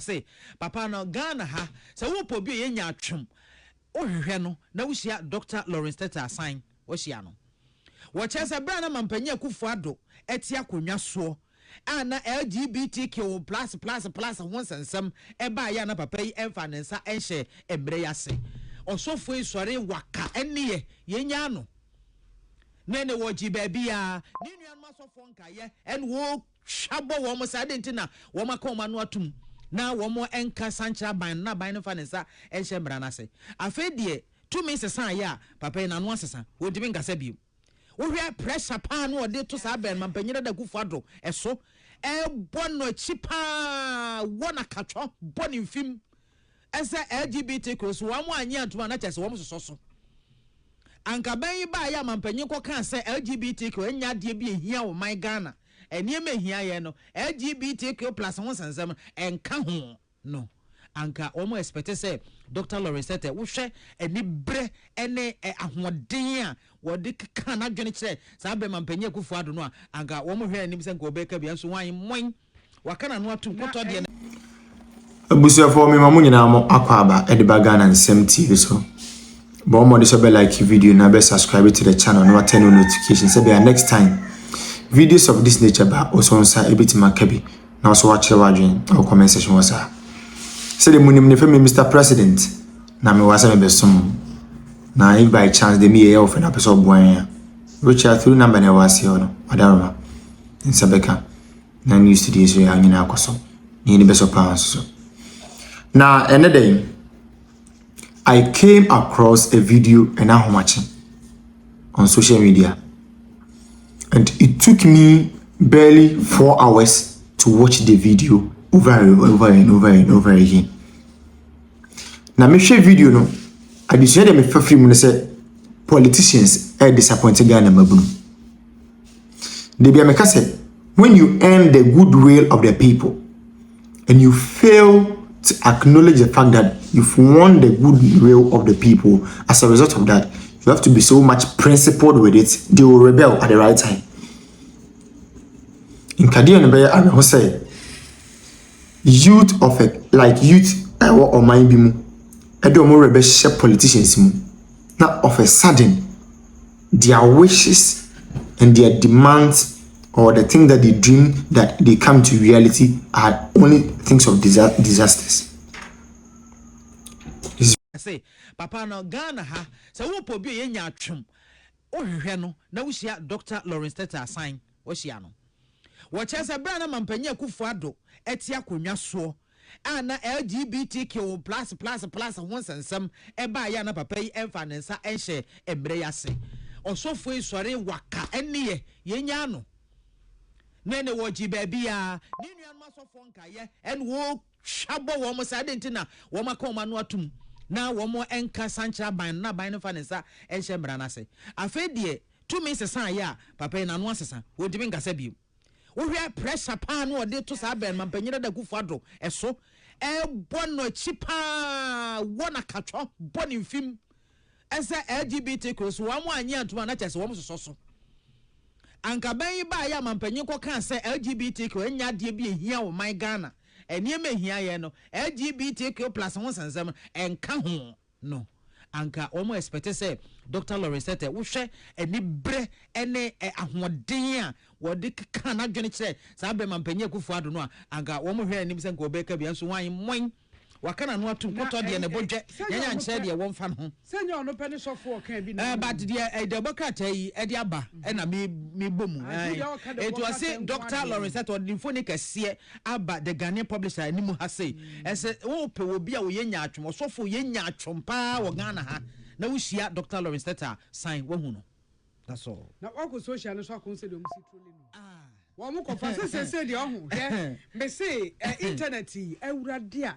se papa no Ghana ha sɛ wo pɛ obi ɔyɛ nyaatwom wo hwehwɛ no na wo hyia Doctor Lawrence Tetteh Asan wo hyia no wɔ kyɛɛ sɛ berɛ a na Mampanyin Akuffo Addo ɛte akonnwa soɔ a na LGBTQ plus plus plus ho nsɛnsɛm ɛbaa yɛ a na papa yi ɛnfa ne nsa ɛnhyɛ mmerɛ yi ase ɔsɔfoɔ yi sɔre waka ɛneɛ yɛ nyaa no ne ne wɔ gye baabi a ne nuanom asɔfoɔ nkaeɛ ɛne wo. hwa bɔ wɔn saa? Adɛn nti na wɔaka wɔn ano atom na wɔanka san nkyerɛ aban no, na aban no mfa ne nsa nhyɛ mmara no ase? Afei deɛ tumi sesaeɛ a, papa yi n'ano asesa, wɔntumi nkasa bio. Wohwɛ pressure paa no a ɔde to saa bɛn mampanyin Dada Akufo Addo so, ɛbɔ no akyi paa, wɔ no akatwɔ, bɔ no mfim, Sɛ LGBT kros wɔn annye antom a na kyerɛ sɛ wɔn sosɔ so. Anka bɛn yi baeɛ a mampanyin kɔkaa sɛ LGBTQ ɛnyɛ adeɛ bi a ɛhia ɔman Ghana. Nneɛma a ɛhia yɛn no, LGBTQ plus ho nsɛnsɛm ɛnka ho. No, anka wɔn expect sɛ Dɔkta Lawrence Tetteh wohwɛ aniberɛ ne ahoɔden a wɔde kekaa n'adwene kyerɛɛ saa berɛ mampanyin Akuffo-Addo no a, anka wɔhwɛɛ anim sɛ anka ɔbɛka bi, nanso hwan? Moin! Waka n'ano atom kɔtɔ deɛ. Abusuafoɔ mema mo nyinaa mo akwaaba de ba Ghana Nsɛm TV so. Bɔ mmɔde sɛ bɛ like video na bɛ subscribe to the channel na wa turn on notification sɛ bɛa next time videos of this nature ba wo so nsa ebetumi aka bi na wo so wakyerɛ w'adwene wɔ comment section hɔ saa. Sɛdeɛ mo nim ne fɛ me Mr President na me wɔ sɛ me bɛsom mo na if by chance de me yɛ yɛ wɔ fɛ na pɛ sɛ ɔboa yɛn a which are through number na ɛwɔ aseɛ hɔ no wadaroma nsa bɛka. na ne studio so yɛn nyinaa akɔ so na yɛn bɛsɔ paa nso so na ɛnɛ dɛ I came across a video ɛna ahomakye on social media and it took me barely four hours to watch the video over and over and over and over again na mehwɛ video no adesua deɛ mefa firi mu no sɛ politicians ɛyɛ disappointed Ghana mmabunu. Da bi a meka sɛ, when you earn the good will of the people and you fail to acknowledge the fact that you've won the good will of the people as a result of that, you have to be so much principled with it, they will rebel at the right time. Nkadeɛ no bɛyɛ awerɛho sɛ youth of a, like youth ɛwɔ ɔman bi mu ɛde wɔn rebɛhyɛ politicians mu na of a sudden their wishes and their demands or the things that they dream that they come to reality are only things of disa disasters. Say, papa no Ghana ha sɛ wopɔ obi a yɛ nya atwom wohwehwɛ no na wohyia Dr. Lawrence Tete Asan wahyia no wɔkyerɛ sɛ berɛ a na mampanyin Akufo-Addo ɛte akonnwa soɔ a na LGBTQ plus plus plus ho nsɛnsɛm baeɛ a na papa yi mfaa ne nsa nhyɛɛ mmerɛ yi ase. Ɔsɔfoɔ yi sɔree waka ɛnneɛ yɛnyaa no ne ne wɔ gye baabiara. Ne nuanom asɔfoɔ nkaeɛ ɛna wɔtwa bɔ wɔn sɛ adɛn nti na wɔn aka wɔn ano atom na wɔn nka san kyerɛ aban no na aban no mfa ne nsa nhyɛ mmara no ase. Afei deɛ tumi sesaeɛ a papa yi n'ano asesa, wɔntumi nkasa bio. Wohwɛ pressure paa no ɔde to saa bɛn mampanyin dada kufo ado ɛso ɛbɔ no akyi paa wɔ na katwɔ bɔ ne mfim ɛsɛ LGBT kuro so wɔn anyi antuma na kyɛ sɛ wɔn sosɔ so anka bɛn yi baa yɛ mampanyin kɔ kaa sɛ LGBT kuro nya adeɛ bi ehia wɔ man Ghana nneɛma ehia yɛ no LGBT kuro plus ho nsɛnsɛm ɛnka ho. no anka wɔn expect sɛ Doctor Lawrence Tetteh wohwɛ anibrɛ ɛne ahoɔden a wɔde keka n'adwene kyerɛ saa bɛrima mpanyin Akufo Addo no a anka wɔn hwɛ anim sɛ nka ɔbɛka bi nso wɔn mmɔn waka n'ano ato nkɔtɔ deɛ ne bo dwɛ yɛn ankyerɛ deɛ wɔmfa no ho. Sɛ nyɛ ɔno pɛ ne sɔfo ɔka bi na. But deɛ ɛde ɛbɔ krataa yi ɛde aba ɛna me me bɔ mu ɛn ɛtu ɔse Doctor Lawrence Tetteh ɔde ne mfoni kɛseɛ aba The Ghanaian Publisher anim ha sei, Ɛsɛ wopɛ obi a ɔyɛ nyaatwom, ɔsɔfo ɔyɛ nyaatwom paa wɔ Ghana ha na wohyia Doctor Lawrence Tete a, san wahu no. That's all. Na wakɔ social no so akɔ hu sɛdeɛ ɔmo si trolli no wɔ ɔmo kɔfa sɛ seesei deɛ ɔho hwɛ mese ɛ internet yi awurade a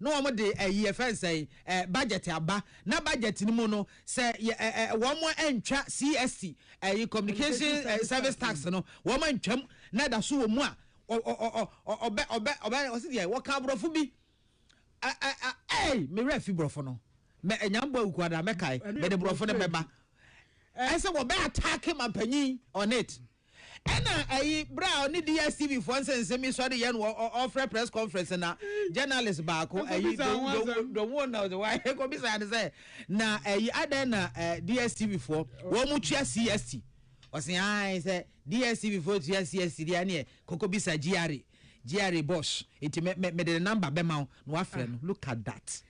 na wɔn de ɛyi yɛfrɛ no sɛn ɛ budget aba na budget no mu no sɛ yɛ ɛ ɛ wɔn antwa CST ɛyi communication ɛ service tax no wɔn antwam na ɛda so wɔ mu a ɔ ɔ ɔ ɔ ɔbɛ ɔbɛ ɔbɛ ɔsi deɛ wɔka aborɔfo bi ɛ ɛ ɛ ɛy me werɛ fi borɔfo no mɛ ɛnyambɔ awukuada mɛkae mɛde borɔfo no bɛba ɛsɛ wɔbɛ ataake mampanyin on it. Ɛna ayi berɛ a ɔne DSTV foɔ nsensem yi sɔre yɛ no ɔfrɛ press conference na journalist baako ayi Dowon na ɔsɛ wae kɔbisaa no sɛ na ayi adɛn na DSTV foɔ wɔn mu tua CST ɔsɛ ae sɛ DSTV foɔ tua CST deɛ ɛneɛ kɔkɔbisa GRA GRA boss eti me me mede ne number bɛma wo na wafrɛ no look at that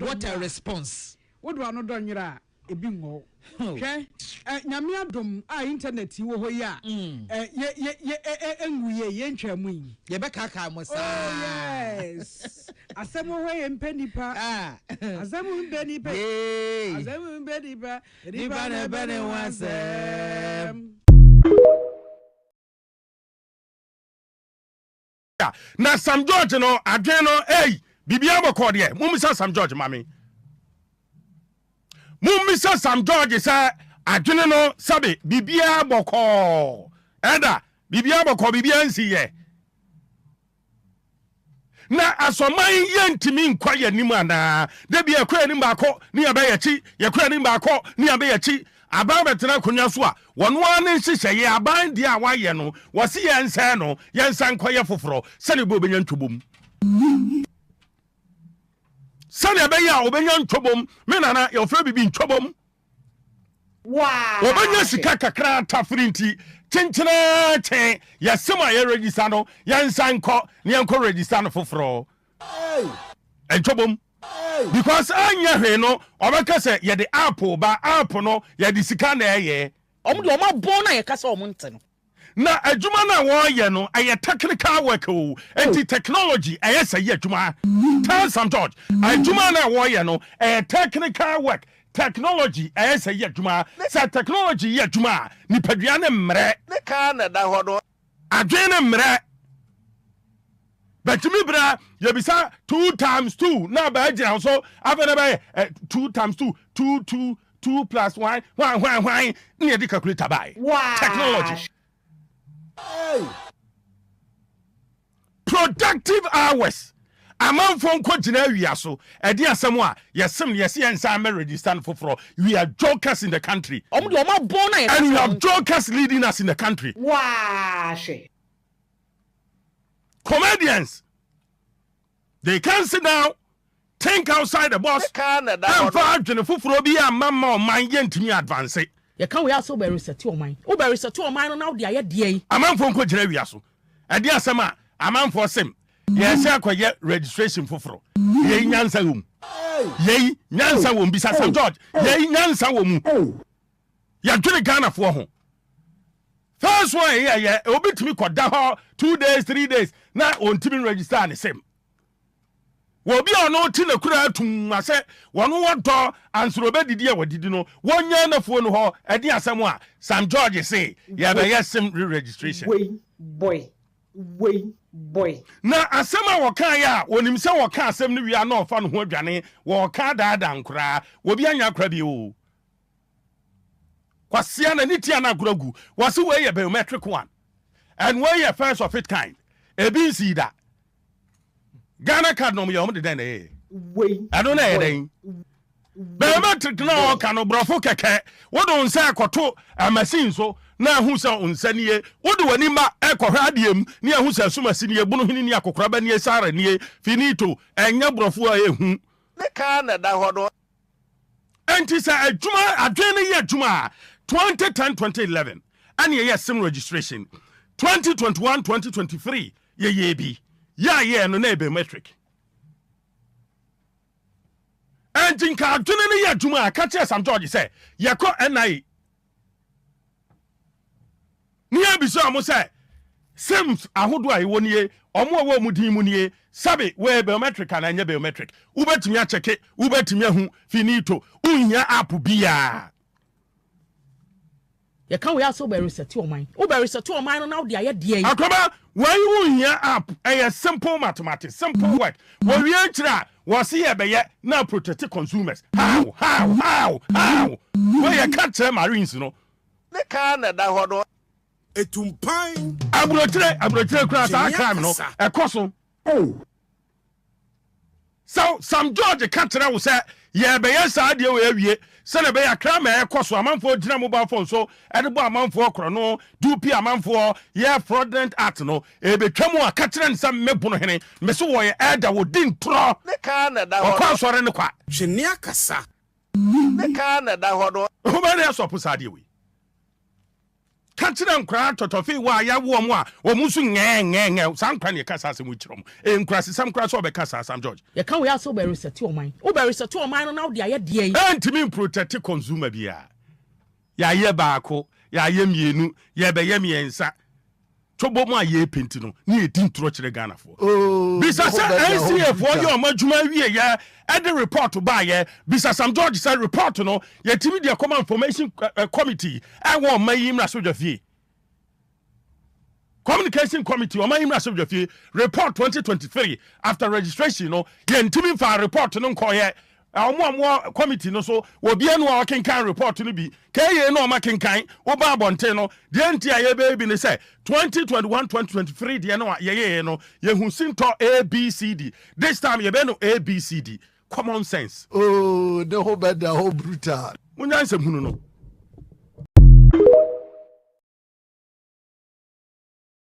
what a response. Wodo ano dɔ nyera. Ebi wɔ hɔ. Hwɛ, ɛ, Nyame adom a internet yi wɔ hɔ yi a, ɛ, yɛ, yɛ, yɛ, ɛ, ɛ, enwu yie, yɛntwaa mu yi. Yɛbɛkaakaa mo saa. Oh, yes. Asɛm wɔ hɔ, yɛmpɛ nnipa. Asɛm mpɛ nnipa. Yee. Asɛm mpɛ nnipa. Nnipa na ɛbɛ ne ho asɛm. Na Sam George no adwen no ei biribiara bɔkɔɔ deɛ mommisa Sam George ma me mommisa Sam George sɛ adwene no sɛbe biribiara bɔkɔɔ ɛda biribiara bɔkɔɔ biribiara nsi yɛ na asɔman yɛntumi nkɔ yɛn anim anaa da bi yɛkɔ yɛn anim baako ne yɛbɛyɛ akyi yɛkɔ yɛn anim baako ne yɛbɛyɛ akyi Aban bɛtena akonnwa so a, wɔn ara ne nhyehyɛeɛ, aban deɛ a wɔayɛ no, wɔse yɛnsɛe no, yɛnsan nkɔyɛ foforɔ, sɛdeɛ ɛbɛyɛ ɔbɛnya ntwobom. Sɛdeɛ ɛbɛyɛ a ɔbɛnya ntwobom. Me nana, wɔfrɛ biribi ntwobom. Wɔbɛnya sika kakra tafere nti, kyenkyenaa kyen, yɛse mo a yɛrejista no, yɛnsan nkɔ na yɛnkɔ rejista no foforɔ. ɛntwɔbom because anyɛ hwee no ɔbɛka sɛ yɛde app ba app no yɛde sika na ɛyɛ ɔmo deɛ ɔmo abɔn no a yɛka sɛ ɔmo nte no na adwuma no a wɔyɛ no ɛyɛ technical work o nti oh. technology ɛyɛ sɛ yɛ adwuma tell some george adwuma no a wɔyɛ no ɛyɛ technical work technology ɛyɛ sɛ yɛ adwuma sɛ technology yɛ adwuma a nipadua ne mmerɛ ne kaa na ɛda hɔ no Adwene no mmerɛ. Bɛtumi berɛ a yɛbisa two times two na bɛagyina so afei na bɛyɛ eh, two times two, two two, two plus one, hwan hwan hwan na yɛde calculator baeɛ. Technology. Hey! Productive hours amanfoɔ nkɔ gyina awia so ɛde asɛm a yɛsem no yɛse yɛn san mɛ register no foforɔ we are jokers in the country Ɔmo deɛ ɔmo abɔn na yɛ kasa. And we have jokers leading us in the country. Waa hwɛ. Comedians They can sit down, think outside the box, ɛmfa adwene foforɔ bi amma mma ɔman yɛntumi advance. Yɛka wei a sɛ wobɛresɛte ɔman. Wobɛresɛte ɔman no na wode ayɛ deɛ yi. Amanfoɔ nkɔgyina awia so. Ɛdeɛ asɛm a amanfoɔ sem yɛsɛ akɔyɛ registration foforɔ. Yei nyansa wɔ mu. Yei nyansa wɔ mu. Bisa Sir George. Yei nyansa wɔ mu. yɛdwene ghanafoɔ ho first one yɛ yɛ obi tumi kɔda hɔ two days three days na ɔntumi register ne sɛm wɔbi a ɔno te n'akura atum ma sɛ wɔn wɔdɔ ansoro bɛdidi a wɔdidi no wɔnyɛ n'afuo no hɔ ɛde asɛm a sam george se yɛbɛyɛ sem re registration wei boy wei boy na asɛm a wɔka yɛ a wɔnim sɛ wɔka asɛm no wia na ɔfa no ho adwane wɔka daadaa nkoraa wɔbi anya akora bi o Kwasia na ne tia no agorɔ agu. Wɔse wei yɛ biometric one. And wei yɛ first of it kind. Ebi nsii da. Ghana card nom yɛ wɔn de dɛn na ɛyɛ? Ɛno na ɛyɛ dɛn? Biometric na ɔka no borɔfo kɛkɛ. Wode wo nsa ɛkɔto machine so na ahu sɛ wo nsa nie. Wode w'ani ma ɛkɔhwɛ adeɛ mu ne ahu sɛ asumasi nie, bonohini nie, akokoraba nie, sara nie. Finito. Ɛnyɛ borɔfo a ɛhu. Ne car na ɛda hɔ no. ɛnti sɛ adwuma adwene no yɛ adwuma a 2010 2011 ɛne ɛyɛ sim registration 2021 2023 yɛyɛ bi yɛ a yɛ no na ɛbɛ metric ɛnti nka adwene no yɛ adwuma a ka kyerɛ sam george sɛ yɛkɔ NIA Ne yɛbisa wɔn sɛ SIMS ahodoɔ a ɛwɔ nie, wɔn a ɛwɔ wɔn din mu nie, sɛbe wɔyɛ biometric anaa ɛnyɛ biometric. Wobɛtumi akyɛke, wobɛtumi ahu, finito, wonhia app biara. Yɛka wei a sɛ wobɛresɛte ɔman, wobɛresɛte ɔman no na wode ayɛ deɛn? Akwaba, wei wonhia app, ɛyɛ simple mathematics, simple work. Wɔwie nkyerɛ a, Wɔse yɛbɛyɛ na protect consumers how how how how wei yɛ ka kyerɛ marines no. Ne car na ɛda hɔ no. Etu mpan. Aburokyire aburokyire koraa saa crime no ɛkɔ so. Oh. Sɛ Sam George ka kyerɛ wo sɛ yɛbɛyɛ saa deɛ wei awie Sɛnea ɛbɛyɛ a kra ma ɛkɔ so amanfoɔ gyina mobile phone so de bɔ amanfoɔ korɔno de wo pie amanfoɔ yɛ fraudulent act no, ɛbɛtwa mu a ka kyerɛ no sɛ me bono hene, me se wɔyɛ elder wɔ di ntorɔ, Ne kaa na ɛda hɔ wɔkɔ no. asɔre no kwa. Twe nne akasa. Ne kaa na ɛda hɔ no. Homa ne ɛsɔpo saa adeɛ wei. Ka kyerɛ nkwadaa tɔtɔfee wɔ a yɛawo wɔn a wɔn nso nyɛɛnyɛɛnyɛɛ. Saa nkwadaa na yɛka saa asɛm yi kyerɛ wɔn. Ɛyɛ nkurasesɛm koraa sɛ wɔbɛka saa asɛm, George. Yɛka wei a sɛ wobɛresɛte ɔman. Wobɛresɛte ɔman no na wode ayɛ deɛn? Ɛrentumi mprotɛte consumer biara. Yɛayɛ baako, yɛayɛ mmienu, yɛrebɛyɛ mmiɛnsa. Tobɔ mu a yɛ penti no ne yɛ di ntorɔ kyerɛ Ghana foɔ. Bisa sɛ NCA foɔ yɛ ɔmo adwuma awie yɛ ɛde report baa yɛ. Bisa Sam George sɛ report no yɛ tumi deɛ kɔma information committee ɛwɔ ɔman yi mmra so dwa fie. Communication committee ɔman yi mmra so dwa fie. Report 2023 after registration no yɛ ntumi nfaa report no nkɔɔ yɛ. Wɔn a wɔwɔ kɔmiti no so wɔ bi anum a wɔkenkan repɔɔto no bi kaa yei na wɔakenkan woba abɔnten no. Deɛ enti a yɛbɛyɛ bi ne sɛ, 2021 2023 deɛ no a yɛyɛeɛ no, yɛhu sintɔ ABCD. This time yɛbɛyɛ no ABCD. Common sense. Oh, ne ho bɛda hɔ brutal. Monya nsɛmhunu no.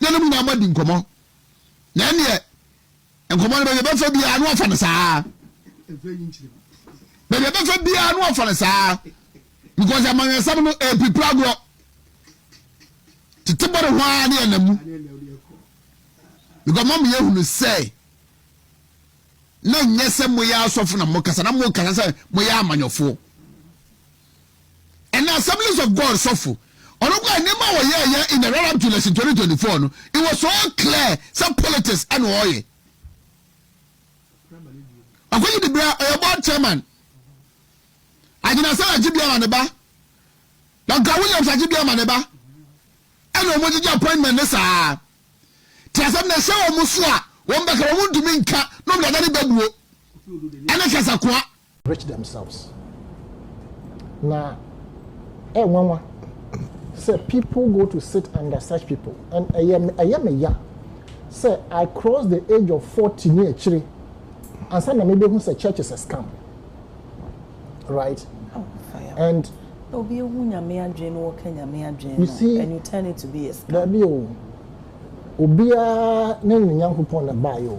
na ne mu nyinaa moadi nkɔmmɔ. Na ɛnneɛ, nkɔmmɔ no, baabi a ɛbɛfa biara na wɔafa no saa ara. Baabi a ɛbɛfa biara na wɔafa no saa ara. Because amanyɔsɛm no, ɛrepirepiri agorɔ. Tete bɔne ho ara ne ɛnam mu. Because mama yɛhunu sɛ na nyɛ sɛ moyɛ asɔfo na mokasa na mokasa sɛ moyɛ amanyɔfoɔ. ɛna Assemblies of God sɔfo. Ɔno kɔ nneɛma a wɔyɛ yɛ in the run up to election 2024 no, it was so clear sɛ politics ɛna ɔyɛ. Ɔkɔgye de bra ɔyɛ board chairman. Agyina sɛ agye biara ne ba. Dɔnka Williams agye biara ne ba. Ɛna wɔn gyegye appointment ne saa. Te asɛm na ɛhyɛ wɔn so a wɔn bɛka wɔn ntumi nka na wɔn dada ne bɛbuo. Ɛne kasakoa. rich themselves. Na ɛyɛ nwanwa sɛ people go to sit under such people and ɛyɛ me ɛyɛ me ya sɛ I cross the age of forty ne akyire ansa na mebɛhu sɛ church is a scam right and obi ehu nyame adwene no wɔka nyame adwene no and you turn it to be a scam. Dabi o obiara ne ne nyankopɔn na baayɛ o.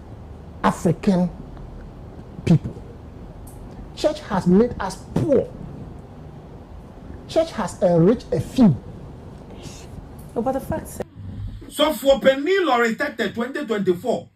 African people church has made us poor church has enrich a few no but the fact sɛ. Sɔfoɔ panin Lorry Tete twenty twenty four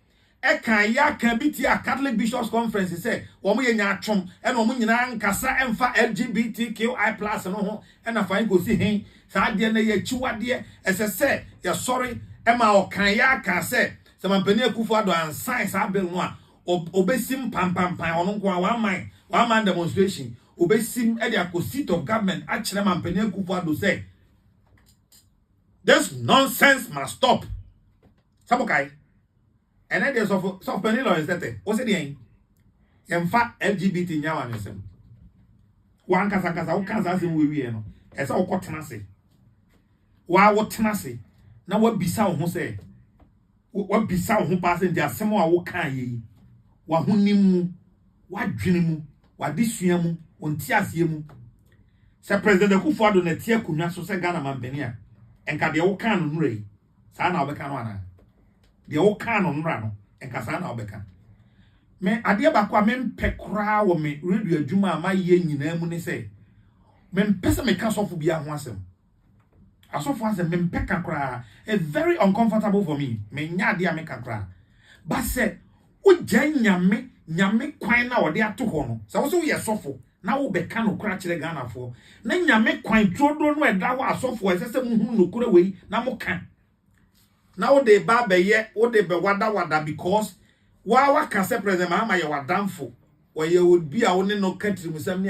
ɛkaa yaka bi tiaa Catholic Bishops Conference sɛ wɔn yɛ nyaatwom ɛna wɔn nyinaa nkasa ɛnfa LGBTQI plus no ho ɛna fine kɔsi hen saa adeɛ no ɛyɛ akyiwadeɛ ɛsɛ sɛ yɛsɔre ɛma ɔkaa yaka sɛ Sɛ Mampanin Akuffo Addo ansign saa bill no a, obesim panpanpan, ɔno nko ara, one man, one man demonstration, obesim de akɔ seat of government akyerɛ Mampanin Akuffo Addo sɛ this nonsense must stop. Sɛ mokae, ɛnɛ deɛ sɔfo sɔfo panin Lawrence Tete, wo se deɛn? Yɛmfa LGBT nyɛ amanwesɛm. Wankasa nkasa wo kansa asɛm wo wieɛ no, ɛsɛ wokɔ tena ase. wo ara wotena ase na woabisa wo ho sɛ, woabisa wo ho paa sɛ, nti asɛm a wokaeɛ yi, w'ahonim mu, w'adwene mu, w'adesua mu, wo nteaseɛ mu, sɛ President Akuffo Addo na ɛte akonnwa so sɛ Ghana mampanin a, nka deɛ wokaa no nnora yi, saa na wobɛka no anaa? Deɛ wokaa no nnora no, nka saa na wobɛka? Me, adeɛ baako a mempɛ koraa wɔ me radio adwuma a mayɛ nyinaa mu ne sɛ, mempɛ sɛ meka sɔfo biara ho asɛm. Asɔfo asɛm me mpɛ ka koraa it's very uncomfortable for me me nyɛ ade a me ka koraa but sɛ wo gyae nyame nyame kwan na ɔde ato hɔ no sɛ wo sɛ wo yɛ sɔfo na wo bɛ ka no kora kyerɛ Ghana foɔ na nyame kwan turoduro no ɛda hɔ asɔfo ɛsɛ sɛ mo hunu no kora wei na mo ka na wo de ba bɛ yɛ wo de bɛ wada wada because wa wa ka sɛ president Mahama yɛ wadanfo wɔyɛ obi a wo ne no ka tirimusɛm ne